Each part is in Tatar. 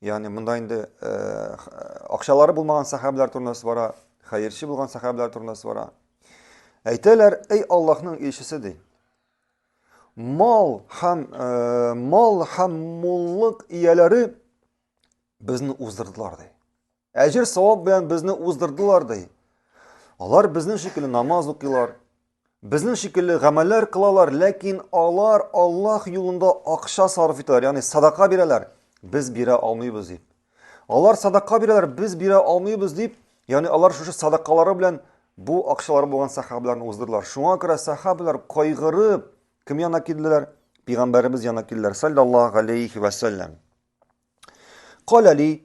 Ягъни монда инде акчалары булмаган сахабилар турында бара, хәерче булган сахабилар турында бара. Әйтәләр, "Эй Аллаһның илчесе" ди. Мал һәм мал һәм муллык ияләре безне уздырдылар ди. Әҗер савап белән безне уздырдылар ди. Алар безнең шикелле намаз укыйлар, безнең шикелле гамәлләр кылалар, ләкин алар Аллаһ юлында акча сарыф итәләр, ягъни садака бирәләр. Без бирә алмыйбыз дип. Алар садака бирәләр, без бирә алмыйбыз дип, ягъни алар шушы садакалары белән бу акчалары булган сахабаларны уздырдылар. Шуңа күрә сахабалар кайгырып кем янына килделәр? Пәйгамбәребез янына килделәр, саллаллаһу алейхи ва саллям. Калали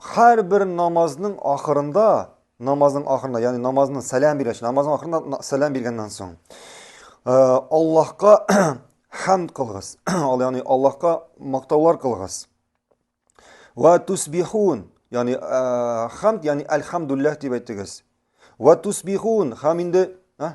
Хәр бер намазның ахырында, намазның ахырында, ягъни намазның сәлам биргәч, намазның ахырында сәлам биргәннән соң, э, Аллаһка хәмд кылгыз. Ал ягъни Аллаһка мактаулар кылгыз. Ва тусбихун, ягъни э, хәмд, ягъни альхамдуллаһ дип әйтегез. Ва тусбихун, хәм инде, а?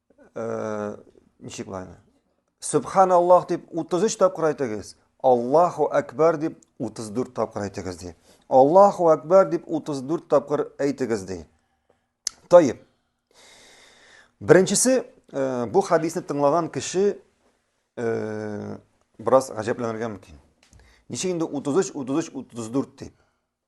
ничек була аны сөбхан аллах дип утыз өч тапкыр әйтегез аллаху әкбар дип утыз дүрт тапкыр әйтегез ди аллаху әкбар дип утыз дүрт тапкыр әйтегез ди тайып беренчесе э, бу хадисне тыңлаган кеше э, бераз гаҗәпләнергә мөмкин ничек инде утыз өч утыз өч утыз дүрт дип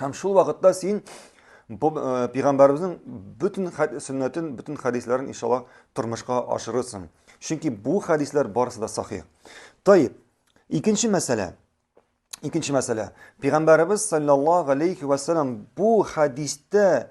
Һәм шул вакытта син э, пигамбарыбызның бөтен сөннәтен, бөтен хәдисләрен иншалла тормышка ашырырсың. Чөнки бу хәдисләр барысы да сахих. Тайып, икенче мәсьәлә. Икенче мәсьәлә. Пигамбарыбыз саллаллаһу алейхи ва бу хәдистә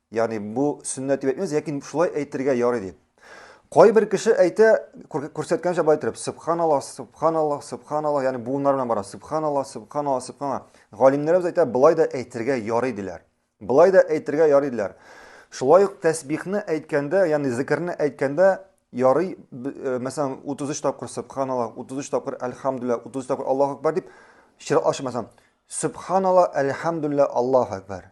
Ягъни бу сөннәт дип әйтмибез, ләкин шулай әйтергә ярый дип. Кайбер кеше әйтә, күрсәткәнчә болай торып, субханаллах, субханаллах, субханаллах, ягъни буыннар белән бара, субханаллах, субханаллах, субханаллах. Галимнәребез әйтә, болай да әйтергә ярый диләр. Болай да әйтергә ярый диләр. Шулай ук тәсбихны әйткәндә, ягъни зикерне әйткәндә ярый, э, мәсәлән, 33 тапкыр субханаллах, 33 тапкыр әлхамдулилла, 33 тапкыр Аллаһу акбар дип чиратлашы мәсәлән, субханаллах, әлхамдулилла, Аллаһу акбар.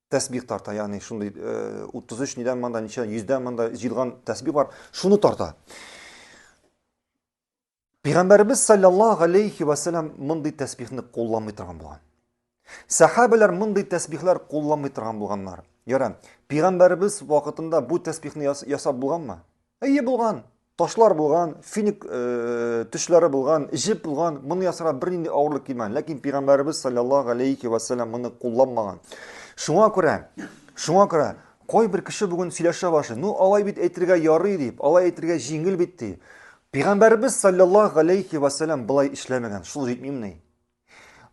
тәсбих тарта, ягъни шундый 33 э, нидән монда, ничә, 100 монда җыелган тәсбих бар, шуны тарта. Пәйгамбәрбез саллаллаһу алейхи ва саллям мондый тәсбихне кулланмый торган булган. Сахабәләр мондый тәсбихләр кулланмый торган булганнар. Яра, пәйгамбәрбез вакытында бу тәсбихне ясап булганмы? Әйе булган. ташлар булган, финик э, төшләре булган, җеп булган, моны ясарга бернинди авырлык килмәгән. Ләкин пәйгамбәребез саллаллаһу алейхи ва саллям моны кулланмаган. Шуңа күрә, шуңа күрә кайбер кеше бүген сөйләшә башы, ну алай бит әйтергә ярый дип, алай әйтергә җиңел бит ди. Пәйгамбәребез саллаллаһу алейхи ва саллям былай эшләмәгән. Шул җитмимени?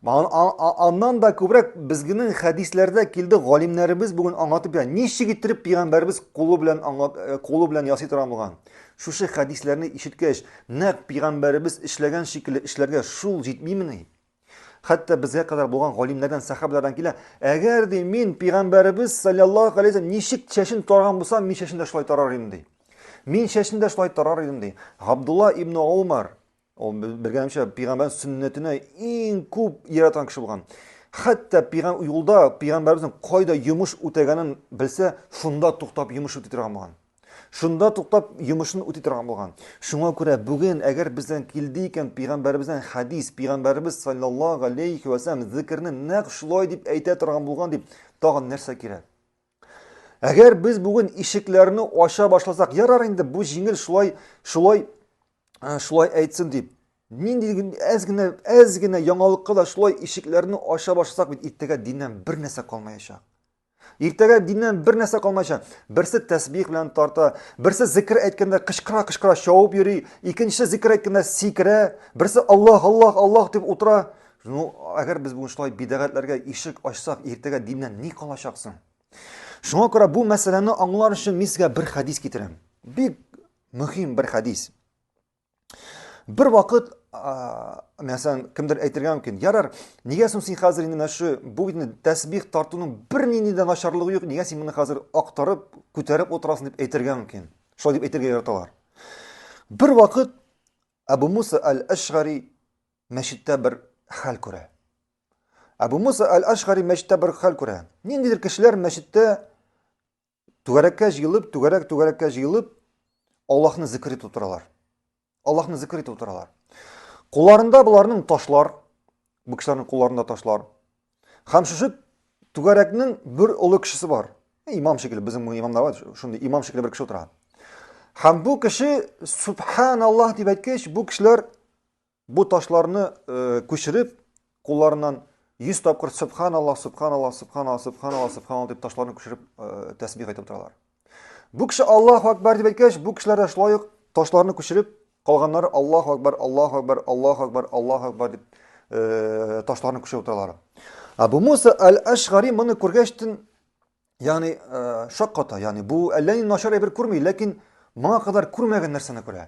Аннан да күбрәк безгенең хәдисләрдә килде, галимнәребез бүген аңлатып бирә. Ничек иттереп пигамбәрбез кулы белән аңлат, э, кулы белән ясый торган булган. Шушы хәдисләрне ишеткәч, нәкъ пигамбәребез эшләгән шикелле эшләргә шул җитмимени? Хәтта безгә кадәр булган галимнәрдән, сахабалардан килә, әгәр ди мин пигамбәребез саллаллаһу алейхи ничек чәчен тарган булсам, мин чәчен дә шулай тарар идем ди. Мин чәчен дә шулай тарар идем ди. Габдулла ибн Умар Ул белгәнемчә пигамбәр сөннәтенә иң күп яраткан кеше булган. Хәтта пигам юлда пигамбәребезнең кайда йомыш үтәгәнен белсә, шунда туктап йомыш үти торган булган. Шунда туктап йомышын үти торган булган. Шуңа күрә бүген әгәр бездән килде икән пигамбәребездән хәдис, пигамбәребез саллаллаһу алейхи ва саллям зикерне нәкъ шулай дип әйтә торган булган дип, тагын нәрсә кирәк? Әгәр без бүген ишекләрне ача башласак, ярар инде бу җиңел шулай, шулай, э, шулай әйтсен дип. Нинди әз генә, әз генә яңалыкка да шулай ишекләрне ача башласак бит иртәгә диннән бер нәрсә калмаячак. Иртәгә диннән бер нәрсә калмаячак. Берсе тәсбих белән тарта, берсе зикр әйткәндә кычкыра, кычкыра шауып йөри, икенче зикр әйткәндә сикерә, берсе Аллах, Аллах, Аллах дип утыра. Ну, әгәр без бүген шулай бидәгатьләргә ишек ачсак, иртәгә диннән ни калачак соң? Шуңа күрә бу мәсьәләне аңлар өчен мин сезгә бер хәдис китерәм. Бик мөһим бер хәдис. Бер вакыт, мәсәлән, кемдер әйтергә мөмкин, ярар, нигә соң син хәзер инде мәшү, бу инде тәсбих тартуның бер нинди дә начарлыгы юк, нигә син моны хәзер актарып, күтәреп утырасың дип әйтергә мөмкин. Шулай дип әйтергә яраталар. Бер вакыт Абу Муса аль-Ашгари мәчеттә бер хәл күрә. Абу Муса Аль-Ашгари мәчеттә бер хәл күрә. Ниндидер кешеләр мәчеттә түгәрәккә җыелып, түгәрәк түгәрәккә җыелып, Аллаһны зикр итеп утыралар. Аллаһны зикр итеп утыралар. Кулларында боларның ташлар, бу кешеләрнең кулларында ташлар. Хәм шушы түгәрәкнең бер олы кешесе бар. Э, имам шикелле, безнең бу имамда бар, шундый имам шикелле бер кеше утыра. Хәм бу кеше субханаллаһ дип әйткәч, бу кешеләр Бу ташларны күчереп, кулларыннан 100 тапкыр Субханаллах, Субханаллах, Субханаллах, Субханаллах, Субханаллах дип ташларны күчереп тәсбих әйтеп утыралар. Бу кеше Аллаһу Акбар дип әйткәч, бу кешеләр дә шулай ук ташларны күчереп, калганнары Аллаһу Акбар, Аллаһу Акбар, Аллаһу Акбар, Аллаһу Акбар дип ташларны күчереп утыралар. Абу Муса аль-Ашгари моны күргәчтен Ягъни, э, шакката, ягъни бу әллә ни начар әйбер күрми, ләкин моңа кадәр күрмәгән нәрсәне күрә.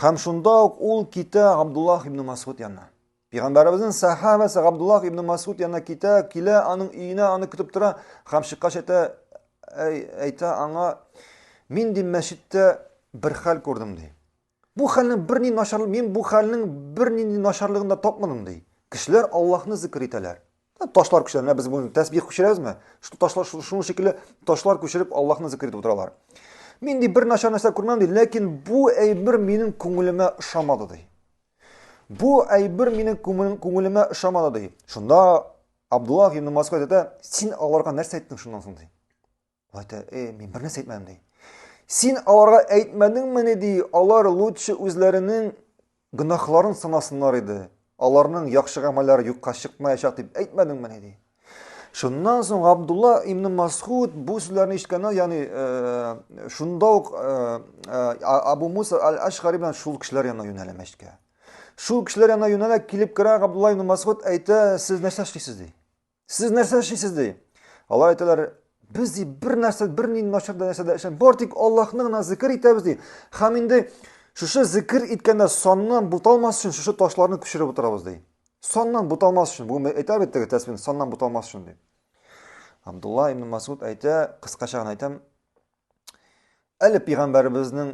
Һәм шунда ук ул китә Абдуллах ибн Масгуд янына. Пәйгамбәребезнең сахабәсе Абдуллах ибн Масгуд янына китә, килә, аның өенә аны көтеп тора һәм чыккач әйтә, әйтә аңа, мин ди мәчеттә бер хәл күрдем ди. Бу хәлнең берни начар, мин бу хәлнең бернинди начарлыгын да тапмадым, ди. Кешеләр Аллаһны зикер итәләр. Ташлар күчерә, менә без бүген тәсбих күчерәбезме? Шул ташлар шуның шикелле ташлар күчереп Аллаһны зикер итеп утыралар. Мин ди бер начар нәрсә күрмәм ди, ләкин бу әйбер минем күңелемә ошамады ди. Бу әйбер минем күңелемә ошамады ди. Шунда Абдуллах ибн Масгуд әйтә, син аларга нәрсә әйттең шуннан соң ди? Вата, э, мин бер нәрсә әйтмәдем ди. Син аларга әйтмәдеңмени ди, алар лучше үзләренең гөнаһларын санасыннар иде. Аларның яхшы гамәлләре юкка чыкмаячак дип әйтмәдеңмени ди. Шуннан соң Абдулла ибн Масхуд бу сүзләрне ишеткәннән, ягъни э, шунда ук э, э, Абу Муса аль-Ашгари белән шул кешеләр янына юнәлә мәчеткә. Шул кешеләр янына юнәлә килеп керә Абдулла ибн Масхуд әйтә, сез нәрсә эшлисез ди? Сез нәрсә эшлисез ди? Алар әйтәләр, без ди бер нәрсә, бер нинди начар да нәрсә дә эшләм. Бар тик Аллаһны гына зикр итәбез ди. Хәм инде шушы зикр иткәндә саннан буталмас өчен шушы ташларны күчереп утырабыз ди. Саннан буталмас өчен. Бүген әйтә бит теге тәсбихне саннан буталмас өчен ди. Абдулла ибн Масуд әйтә, кыскача гына әйтәм. Әле пәйгамбәребезнең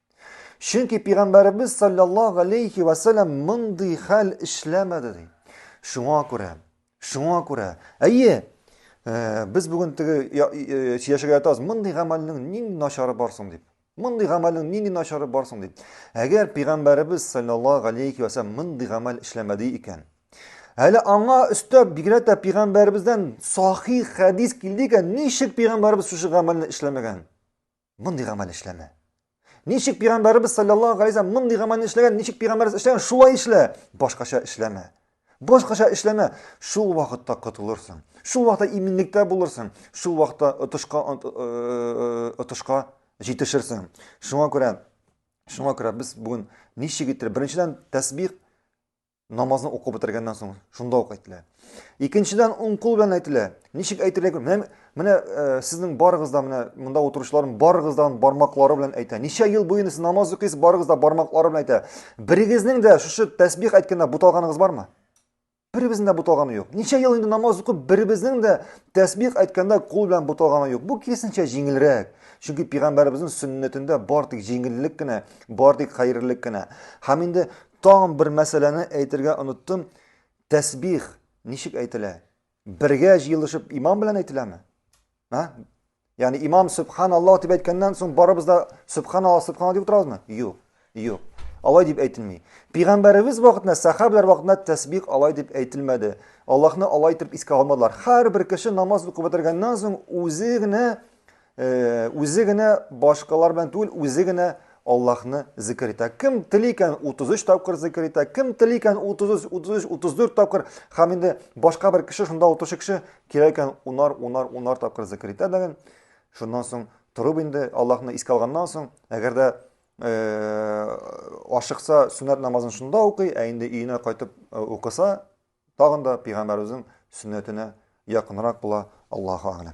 Чөнки пигамбәребез саллаллаһу алейхи ва саллям мондый хәл эшләмәде ди. Шуңа күрә, шуңа күрә. Әйе, э, без бүген теге э, сөйләшергә ятабыз, мондый гамәлнең нинди начары бар соң дип. Мондый гамәлнең нинди начары бар соң дип. Әгәр пигамбәребез саллаллаһу алейхи ва саллям мондый гамәл эшләмәде икән, Әле аңа өстәп бигрәк тә пигамбәребездән сахих хәдис килде икән, ничек пигамбәребез шушы гамәлне эшләмәгән? Мондый гамәл эшләмә. Ничек пигамбәребез саллаллаһу галәйһи вәсәлләм мондый гамәлне эшләгән, ничек пигамбәребез эшләгән, шулай эшлә. Башкача эшләмә. Башкача эшләмә. Шул вакытта котылырсың. Шул вакытта иминлектә булырсың. Шул вакытта отышка отышка җитешерсең. Шуңа күрә шуңа күрә без бүген ничек итеп беренчедән тәсбих намазны укып бетергәннән соң шунда ук әйтелә икенчедән уң кул белән әйтелә ничек әйтергә кирәк менә, менә ә, э, сезнең барыгыз да менә монда утыручыларның барыгыз да бармаклары белән әйтә ничә ел буена сез намаз укыйсыз барыгыз да бармаклары белән әйтә берегезнең дә шушы тәсбих әйткәндә буталганыгыз бармы беребезнең дә буталганы юк ничә ел инде намаз укып беребезнең дә тәсбих әйткәндә кул белән буталганы юк бу киресенчә җиңелрәк чөнки пигамбәребезнең сөннәтендә бар тик җиңеллек кенә бар тик хәерлелек кенә һәм инде Тагын бер мәсьәләне әйтергә оныттым. Тәсбих ничек әйтелә? Бергә җыелышып имам белән әйтеләме? Ха? Ягъни имам субханаллаһ дип әйткәннән соң барыбыз да субханаллаһ, субханаллаһ дип утырабызмы? Юк. Юк. Алай дип әйтелми. Пәйгамбәребез вакытында, сахабалар вакытында тәсбих алай дип әйтелмәде. Аллаһны алай итеп искә алмадылар. Һәрбер кеше намаз укып бетергәннән соң үзе генә Үзе генә башкалар белән түгел, үзе генә Аллаһны зикер итә. Кем тели икән 33 тапкыр зикер итә, кем тели икән 33, 33, 34 тапкыр. Хәм инде башка бер кеше шунда утыручы кеше кирәк икән унар, унар, унар тапкыр зикер итә дәген. Шуннан соң торып инде Аллаһны искә алганнан соң, әгәр дә э, ашыкса сөннәт намазын шунда укый, ә инде өенә кайтып э, укыса, тагын да пәйгамбәребезнең сөннәтенә якынрак була. Аллаһу а'лам.